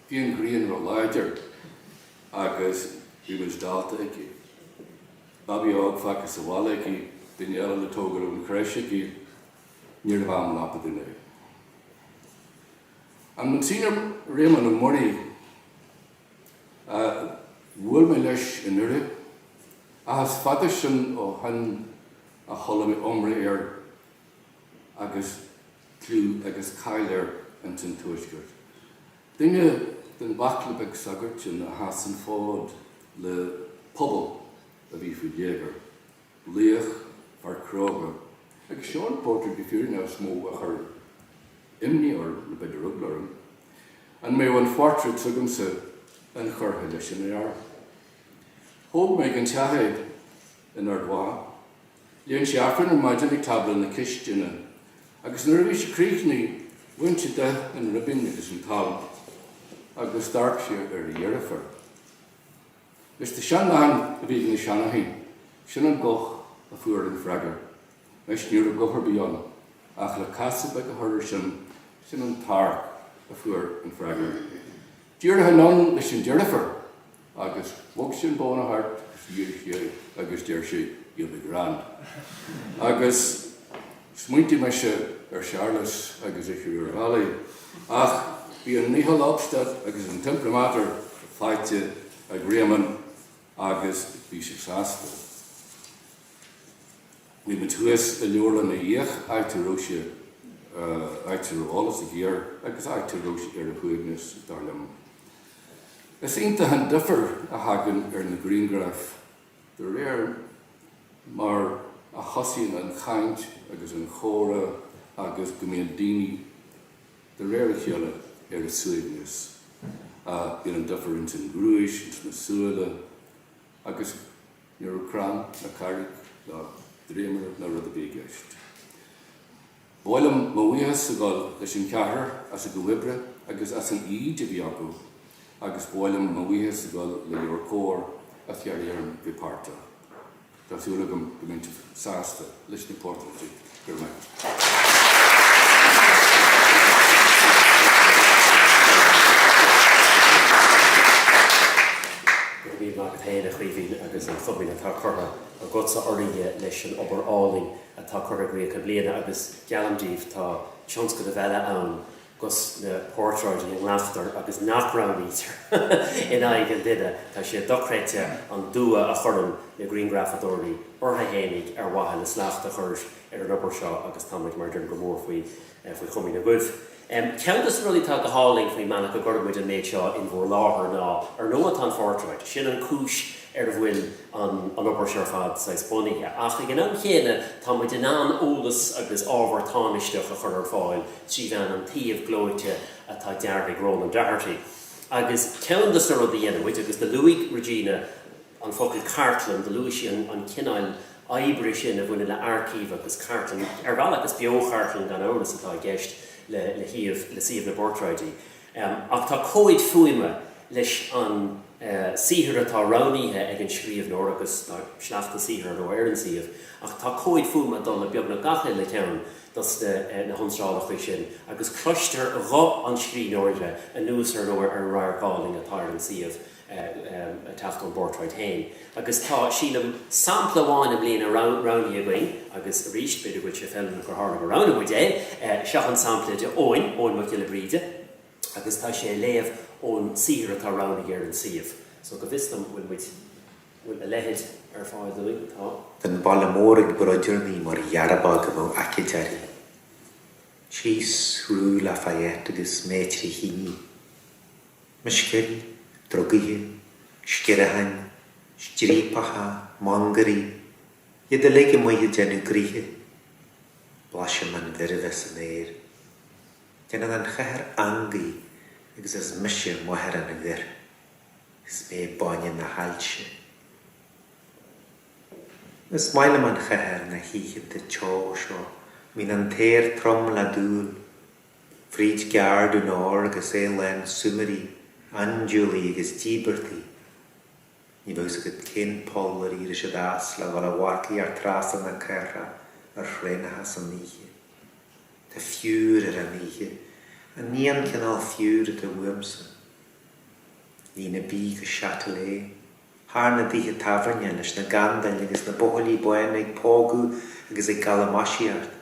bhí an ghrian róláidir agus bhí muid dallta aici. Babaí óg fágtha sa bhaile aici, duine eile le tógáil ón chreis aici, ní raibh am lapadaíle ann. An Monsignor Réamonn Ó Muirí. Bhuail mé leis i nDoire, ach is fada sin ó shoin a chuala mé iomrá air agus clú agus cáil air ins an Tuaisceart. Duine den bhaicle bheag sagart sin a sheas an fód le pobal a bhí faoi léigear. Laoch, fear cróga, agus seo an phortráid go fírinneach is mó a chuir imní orm, nó b'fhéidir eagla orm, an mbeadh an phortráid s'agamsa inchurtha leis an fhear. Thóg mé ina theach é in Ard Mhacha. Léann sé Aifreann ar maidin ag tábla na cistine, agus nuair a bhí sé críochnaithe, bhain sé de an ribín agus an t-alb, agus d'amharc sé ar a dheirfiúr. Anois tá seanchaint a bhí ag na seandaoine, sin an guth a fuair an freagra. Anois ní raibh guth ar bith ann, ach le casadh beag a chur air sin, sin an t-amharc a fuair an freagra. Díreach anonn leis an deirfiúr agus bhog sí an bóna thart agus dhírigh sí é agus deir sí, You'll be grand. Agus. Smaointigh mise ar Shéarlas agus Eachaidh, ach bhí an nihil obstat agus an t-imprimatur faighte ag Réamonn agus bhí sé sásta. Bhí muid thuas i Leabharlann Uí Fhiaich, áit a raibh sé, áit a raibh eolas aige air agus áit a raibh sé ar a shuaimhneas, dar liom. Is iontach an difear a thagann ar na grianghraif De réir mar a thosaíonn an chaint agus an comhrá agus go mbíonn daoine, de réir a chéile, ar a suaimhneas, bíonn an difear ins an ghnúis, ins na súile, agus ní raibh crann ná carraig ná dréimire ná rud ar bith i gceist. Ba mhaith liom mo bhuíochas a ghabháil leis an ceathrar as a gcuid oibre agus as an fhoighid a bhí acu agus ba mhaith liom mo bhuíochas a ghabháil le Liam agus Comhar a d'iarr orm bheith páirteach. Tá súil agam go mbeidh sibh sásta leis na portráidí. Go raibh míle maith agat féin, a Chaoimhín, agus an chomaoin atá curtha agatsa orainne leis an obair álainn. atá curtha i gcríoch i mbliana agus geallaim díbh tá tionscnamh eile ann dos na portráidí a nglactar agus nach roghnaítear in aghaidh an duine, tá sé dochreidte an dua a chuireann na grianghrafadóirí ortha fhéinig ar mhaithe le slacht a chur ar an obair seo agus táimid, mar deirim, go mór faoi faoi chomaoin agaibh. Ceann de na rudaí atá go hálainn faoin mbealach go gcuireann muid an méid seo in bhur láthair ná, ar ndóigh tá an phortráid, sin an cúis ar a bhfuil an an obair seo ar fad saghas bunaithe, ach ag an am céanna tá muid in ann eolas agus ábhar tánaisteach a chur ar fáil trí mheán an tsuímh gleoite atá deartha ag Ronan Doherty. Agus ceann de na rudaí a dhéanann muid, agus do luaigh Regina an focal cartlann, do luaigh sí an cineáil, oibre sin a bhaineann le aircív agus cartlann. Ar bhealach, is beo-chartlann gan amhras atá i gceist le shuíomh le suíomh na bportráidí, ach tá comhaid fuaime leis an saothar atá roghnaíthe ag an scríobhnóir agus tá sleachta saothair, ar ndó, ar an suíomh, ach tá comhaid fuaime ag dul le beagnach gach uile cheann dos na hiontrálacha sin agus cloistear guth an scríbhneora anuas ar, ar ndó, ar an radharc álainn atá ar an suíomh. ag teacht ón bportráid féin agus tá, sílim, sampla amháin i mbliana roghnaithe againn agus arís, b'fhéidir go bhfuil sé feiliúnach gur tharla gur roghnaigh muid é. Seo an sampla de Eoghan, Eoghan Mac Giolla Bhríde agus tá sé ag léamh ón saothar atá roghnaithe ar an suíomh so go bhfios dom, bhfuil muid, bhfuil a leitheid ar fáil dúinn? Tá. An baile mór ag broideadh mé mar ghearb agam ó aicid ari síos rue Lafayette agus mé trí thine. Meisceoirí, drugaithe, sciatháin, striapacha, mangairí, iad uilig amuigh ag déanamh gnoithe. Blaisim an bhoirbe san aer. Déanann an chathair angadh agus is mise máthair an ghoir. Is mé báine na hailse. Is maith liom an chathair na hoícheanta teo seo, bíonn an t-aer trom le dúil. fríd Gare du Nord agus é lán súmairí, aindiúlaigh agus díbeartaigh. Ní bheidh fhios agat cén poll ar éirigh siad as le dhul a mharcaíocht trasna na cathrach ar thraenacha san oíche. Tá fiúr ar an oíche, ach ní an cineál fiúr atá uaimsa. Líne B go Châtelet, thar na dtithe tábhairne, leis na gandail agus na buachaillí bána ag pógadh agus ag galamaisíocht.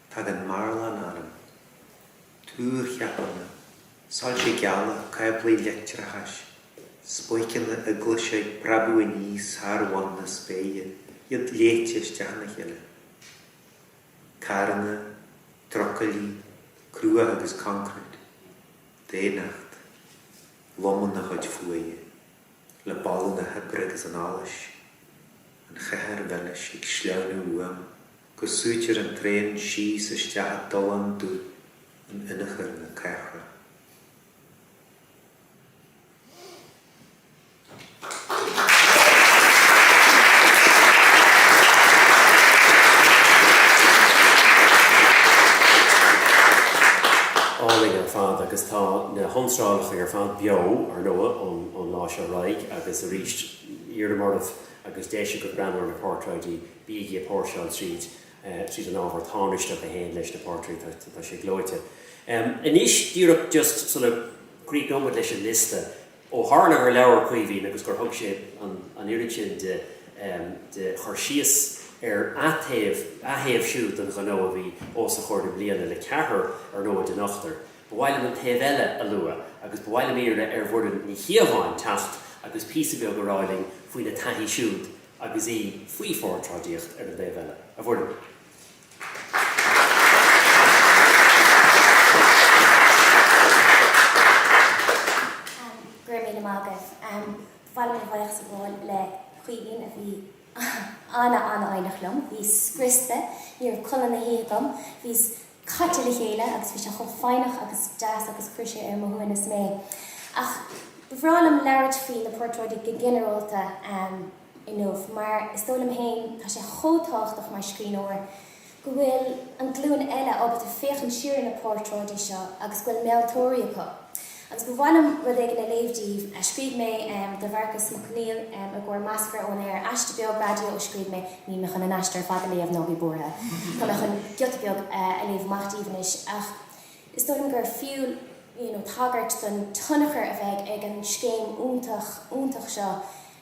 Tagann marbhán orm. Túrcheapanna, soilse geala, cáblaí leictreachais, spóiceanna eaglaise ag preabadh aníos thar bhun na spéire, iad leáite isteach ina chéile. Carranna, trucailí, cruach agus concrete. Daonnacht. Domhan na cuid fuaime. Le boladh na hoibre agus an allais. An chathair mhilis ag sleamhnú uaim. go súitear an traein síos isteach i dtollán dubh in ionathar na cathrach. Álainn ar fad agus tá na hiontrálacha ar fad beo, ar ndóigh, ón lá seo ar aghaidh agus arís, iarraim oraibh, má tá deis agaibh breathnú ar na portráidí, Bígí ag póirseáil tríd, tríd an ábhar táinisteach a théann leis na portráidí, tá, tá sé gleoite. Anois díreach just sula gcríochnóidh muid leis an liosta, ó tharla gur labhair Caoimhín agus gur thug sé an, an oiread sin de, de chur síos ar a' taobh, a thaobh siúd den ghnó a bhí os a chomhair i mbliana le ceathrar ar ndóigh den ochtar, ba mhaith liom an taobh eile a lua agus ba mhaith liom iarraidh ar Mhuireann Ní Chíobháin teacht agus píosa beag a rá linn faoina taithí siúd agus í faoi phortráidíocht ar an dtaobh eile, a Mhuireann. Go raibh míle maith agat. Bhuel bhí mé ag glaoch sa bhfón le Caoimhín a bhí an-an-fhoighneach liom. Bhíos scriosta, ní raibh codladh na hoíche agam, bhíos caite le chéile agus bhí sé chomh foighneach agus deas agus chuir sé ar mo shuaimhneas mé. Ach ba bhreá liom labhairt faoi na portráidí go ginearálta inniu mar is dóigh liom féin tá sé chomh tábhachtach mar scríbhneoir go bhfuil an glúin eile ábalta féachaint siar ar na portráidí seo agus go bhfuil meantóirí acu. Agus ba mhaith liom rud éigin a léamh díbh a scríobh mé do Mharcus Mac Neill i gcomhair Meascra ón Aer, aiste beag raidió a scríobh mé, níl mé chun an aiste ar fad a léamh ná bígí buartha, tá mé chun giota beag a léamh amach díbh anois, ach is dóigh liom gur fiú, you know, tagairt don tionchar a bheidh ag an scéim iontach, iontach seo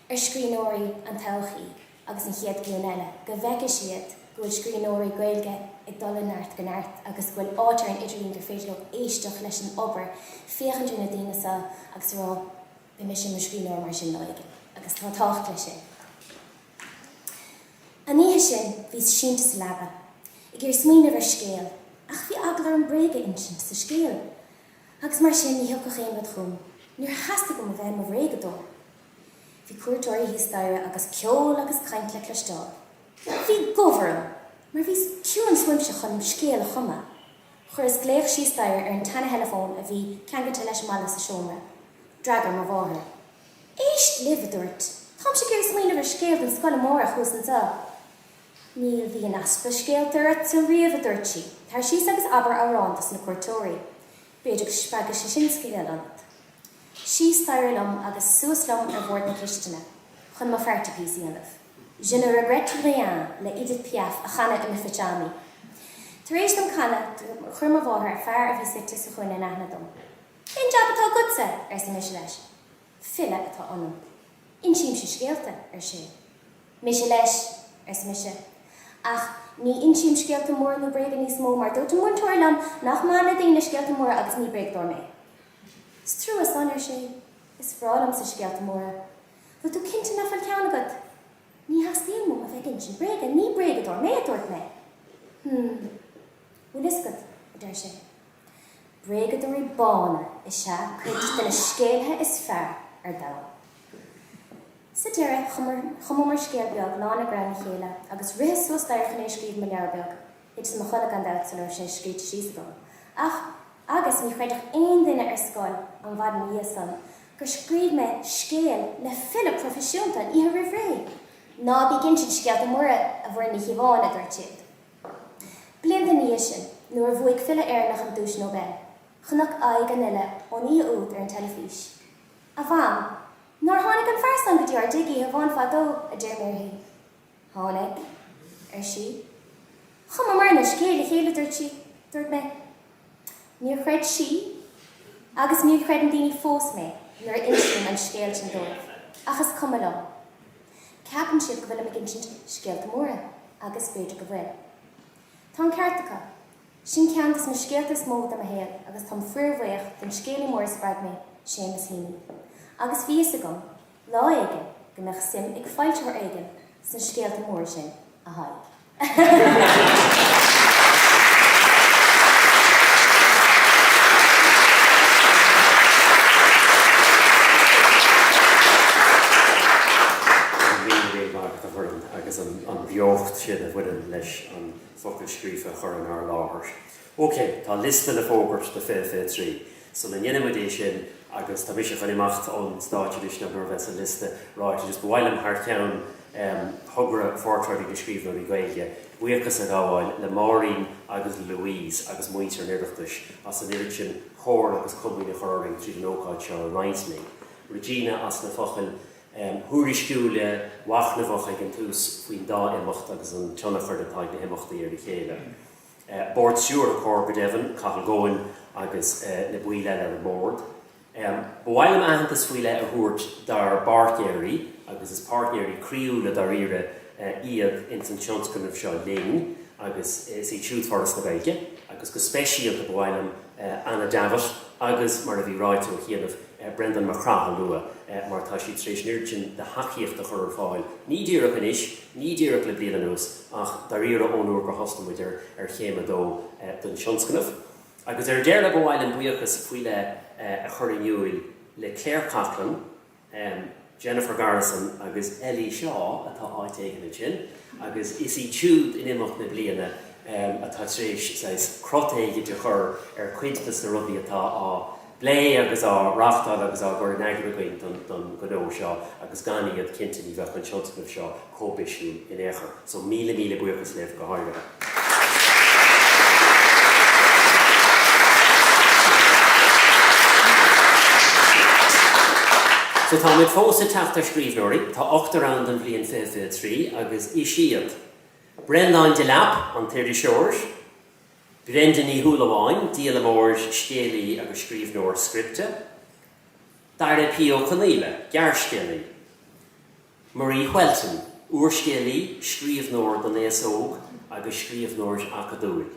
ar scríbhneoirí an todhchaí. agus an chéad ghlúin eile, go bhfeicfidh siad go bhfuil scríbhneoirí Gaeilge ag dul ó neart go neart agus go bhfuil áit ar an idirlíon gur féidir leo éisteacht leis an obair, féachaint ar na daoine seo agus a rá 'beidh mise i mo scríbhneoir mar sin lá éigin'. Agus tá tábhacht leis sin. An oíche sin, bhíos sínte sa leaba, ag iarraidh smaoineamh ar scéal, ach bhí eagla orm bréag a insint sa scéal, agus mar sin, ní thiocfadh aon rud chugam. Níor theastaigh uaim a bheith i mo bhréagadóir. Bhí cuairteoirí thíos staighre agus ceol agus caint le cloisteáil. Bhí gomh orm, mar bhí ciúnas uaimse chun mo scéal a chumadh. Chuireas glaoch síos staighre ar an tseana-theileafón a bhí ceangailte leis an mballa sa seomra. D'fhreagair mo mháthair. Éist libh, a dúirt, táimse ag iarraidh smaoineamh ar scéal don scoil amárach thuas anseo. Ní bhí aon easpa scéalta ortsa riamh, a dúirt sí, tar síos agus abair amhrán dos na cuairteoirí. B'fhéidir go spreagfadh sé sin scéal ionat. Síos staighre liom agus suas liom ar bhord na cistine chun mo party piece a dhéanamh. Je ne regrette rien le Edith Piaf a chanadh i mBife Johnny. Tar éis dom canadh, chuir mo mháthair fear a bhí suite sa chúinne in aithne dom. Cén jab atá agatsa? arsa mise leis. File atá ionam. Insímse scéalta, ar sé. Mise leis, arsa mise. Ach ní insím scéalta móra nó bréaga níos mó, mar dúirt an múinteoir liom nach maith le daoine scéalta móra agus ní bréagadóir mé. Is trua san, ar sé. Is breá liomsa scéalta móra. Bhfuil tú cinnte nach bhfuil ceann agat? Ní theastaíonn uaim a bheith ag insint bréaga, ní bréagadóir mé, a dúirt mé. Hm. Bhfuil fhios agat, a deir sé, Bréagadóirí bána is ea cuid de na scéalaithe is fearr ar domhan. Sa deireadh, chumamar scéal beag lán de ghreann le chéile, agus ritheas suas staighre chun é a scríobh i mo leabhar beag. Thiteas i mo chodladh gan dabht sula raibh sé scríte síos agam, ach agus ní chreidfeadh aon duine ar scoil an mhaidin ina dhiaidh san gur scríobh mé scéal le file proifisiúnta an oíche roimh ré! Ná bí ag insint scéalta móra, a Mhuireann Ní Chíobháin, a dúirt siad. Blianta ina dhiaidh sin, nuair a bhuaigh file Éireannach an Duais Nobel, chonac aghaidh an fhile ón oíche úd ar an teilifís. 'A Mham, nár tháinig an fear san go dtí ár dtigh oíche amháin fadó? a deir mé uirthi. 'Tháinig, ar sí. 'Chumamarna scéal le chéile, dúirt sí. Dúirt mé. Níor chreid sí, agus ní chreideann na daoine fós mé nuair a insím an scéal sin dóibh, ach is cuma liom. Ceapann siad go bhfuilim ag insint scéalta móra, agus b'fhéidir go bhfuil. Tá an ceart acu. Sin ceann de na scéalta is mó de mo shaol, agus táim fíorbhuíoch den scéalaí mór a spreag mé, Seamus Heaney. Agus bhí fhios agam Lá éigin, go mbeadh suim ag foilsitheoir éigin sna scéalta móra sin, a Thaidhg. an líon bhinn mhairc a chuireann, agus an bheocht sin a bhaineann, leis an bhfocal scríofa a chur inár láthair. OK, tá liosta le fógairt do fiche fiche trí sula ndéanann muid é sin agus tá mise chun imeacht ón stáitse anois nach mór a bheas an liosta ráite agus ba mhaith liom thar ceann Thogra Phortráidí na Scríbhneoirí Gaeilge buíochas a ghabháil le Máirín agus le Louise agus muintir an Oireachtais as an oiread sin comhairle agus comaoin a chur orainn tríd an ócáid seo a roinnt linn. Regina as na focail thuairisciúila mhachnamhacha ag an tús faoin dá imeacht agus an tionchar atá ag na himeachtaí ar a chéile. Bord Stiúrtha Comhar, go deimhin, Cathal Goan agus na baill eile ar an mBord. Ba mhaith liom aitheantas faoi leith a thabhairt dár bpáirtnéirí agus is páirtnéirí croíúla dáiríre iad ins an tionscnamh seo linn agus is iad siúd Foras na Gaeilge agus go speisialta ba mhaith liom Anna Davitt agus, mar a bhí ráite ó chianaibh, Brendan Mac Craith a lua mar tá siad tar éis an oiread sin de thacaíocht a chur ar fáil, ní díreach anois, Ní díreach le bliain anuas ach dáiríre ón uair gur thosaigh muid ar Chéim a dó den tionscnamh, agus ar deireadh ba mhaith liom buíochas faoi leith a chur in iúil le Claire Coughlan, Jennifer Garrison agus Ellie Shaw, atá áit éigin ansin, agus is iad siúd in imeacht na bliana atá tar éis saghas crot éigin a chur ar cuid de na rudaí atá á bplé agus á reáchtáil agus á gcur in eagar againn don don ghnó seo agus gan iad, cinnte ní bheadh an tionscnamh seo chomh bisiúil in aon chor. So míle míle buíochas libh go háirithe. So táimid fós ag teacht ar scríbhneoirí. Tá ochtar ann don bhliain fiche fiche trí agus is iad, Breandán Delap, an t-iriseoir, Brenda Ní Shúilleabháin, díolaimeoir, scéalaí agus scríbhneoir scripte, Dara P. Ó Conaola, gearrscéalaí, Marie Whelton, úrscéalaí, scríbhneoir don aos óg agus scríbhneoir acadúil,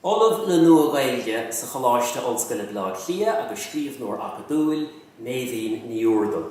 Ollamh le Nua-Ghaeilge sa Choláiste Ollscoile Bhaile Átha Cliath agus scríbhneoir acadúil, Meidhbhín Ní Úrdail.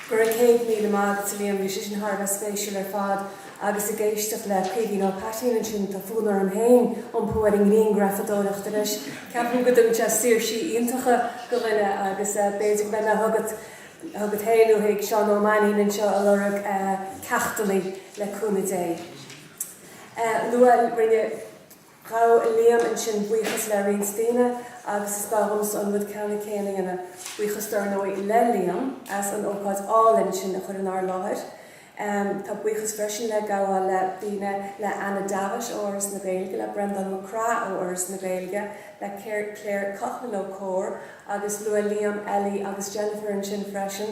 Go raibh 100 míle maith agat, a Liam, bhí sé sin thar a bheith spéisiúil ar fad agus ag éisteacht le Caoimhín Ó hAittín ansin, tá fonn orm féin iompú ar an ngrianghrafadóireacht anois, ceapaim go dtugann sé saoirse iontach do dhuine agus b'fhéidir go mbeidh mé chugat chugat féin nó chuig Seán Ó Mainnín anseo ag lorg ceachtanna le cúnamh Dé. Bhuel rinne. Ghabh Liam ansin buíochas le roinnt daoine agus is gá dhomsa an rud ceannann céanna a dhéanamh. Buíochas dar ndóigh le Liam as an ócáid álainn sin a chur inár láthair. Tá buíochas freisin le gabháil le daoine le Anna Davitt ó Fhoras na Gaeilge, le Breandán Mac Craith ó Fhoras na Gaeilge, le Claire Coughlan ó Comhar agus luaigh Liam, Ellie agus Jennifer ansin freisin.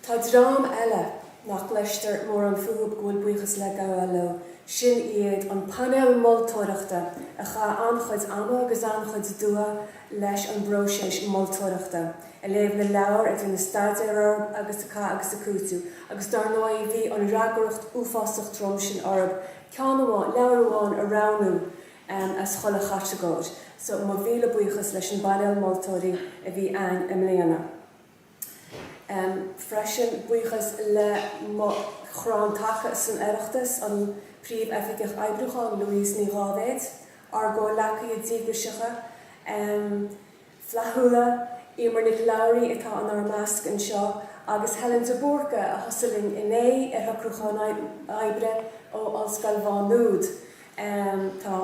Tá dream eile nach gcloistear mórán fúthu go bhfuil buíochas le gabháil leo, sin iad an painéal moltóireachta a chaith an-chuid ama agus an-chuid dua leis an bpróiseas moltóireachta, ag léamh na leabhar, ag déanamh staidéir orthu agus ag cur agus ag cúiteamh agus dar ndóigh bhí an fhreagracht uafásach trom sin orthu ceann amháin, leabhar amháin a roghnú as chuile chatagóir so mo mhíle buíochas leis an bpainéal moltóirí a bhí ann i mbliana. freisin, buíochas le mo chrann taca san Oireachtas, an Príomhoifigeach Oibriúcháin, Louise Ní Dháibhéid, ár gcomhleacaithe díograiseacha, flaithiúla, Emer Nic Labhraí atá inár measc anseo, agus Helen de Búrca a thosaigh linn inné ar shocrúchán oibre ó Ollscoil Mhá Nuad. Tá.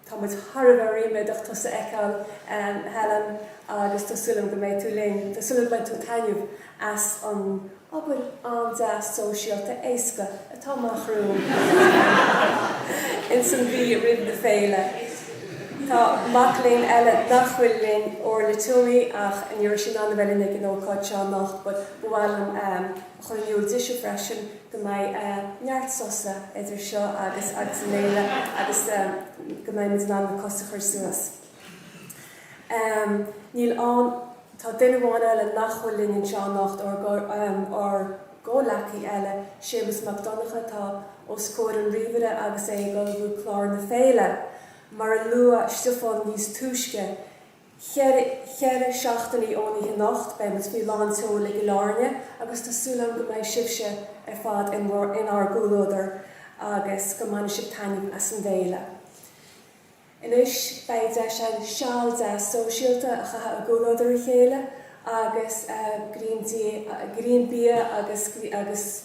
Tá muid thar a bheith ríméadach tusa a fheiceáil, a Helen, agus tá súil agam go mbeidh tú linn. Tá súil agam go mbainfidh tú taitneamh as an obair an-deas shóisialta éasca atá amach romhainn ins an mhí roimh na féile. Tá mac léinn eile nach bhfuil linn, Orla Tuomey, ach ní raibh sí in ann a bheith linn ag an ócáid seo anocht, but ba mhaith liom a. Choinniú daoibhse freisin go mbeidh neart sosa idir seo agus agus an fhéile agus go mbeidh muid in ann na cosa a chur suas. Níl ann, tá duine amháin eile nach bhfuil linn anseo anocht, ár ár gcomhleacaí eile, Séamus Mac Donncha, atá os comhair an ríomhaire agus é ag ullmhú clár na féile. Mar a luaigh Stiofán níos túisce, Ceithre seachtainí ón oíche anocht beidh muid faoi lán tseoil i gCill Áirne agus tá súil agam go mbeidh sibhse ar fad in ár gcomhluadar agus go mbainfidh sibh taitneamh as an bhféile. Anois beidh deis ann seal deas sóisialta a chaitheamh i gcomhluadar a chéile agus greim bia agus.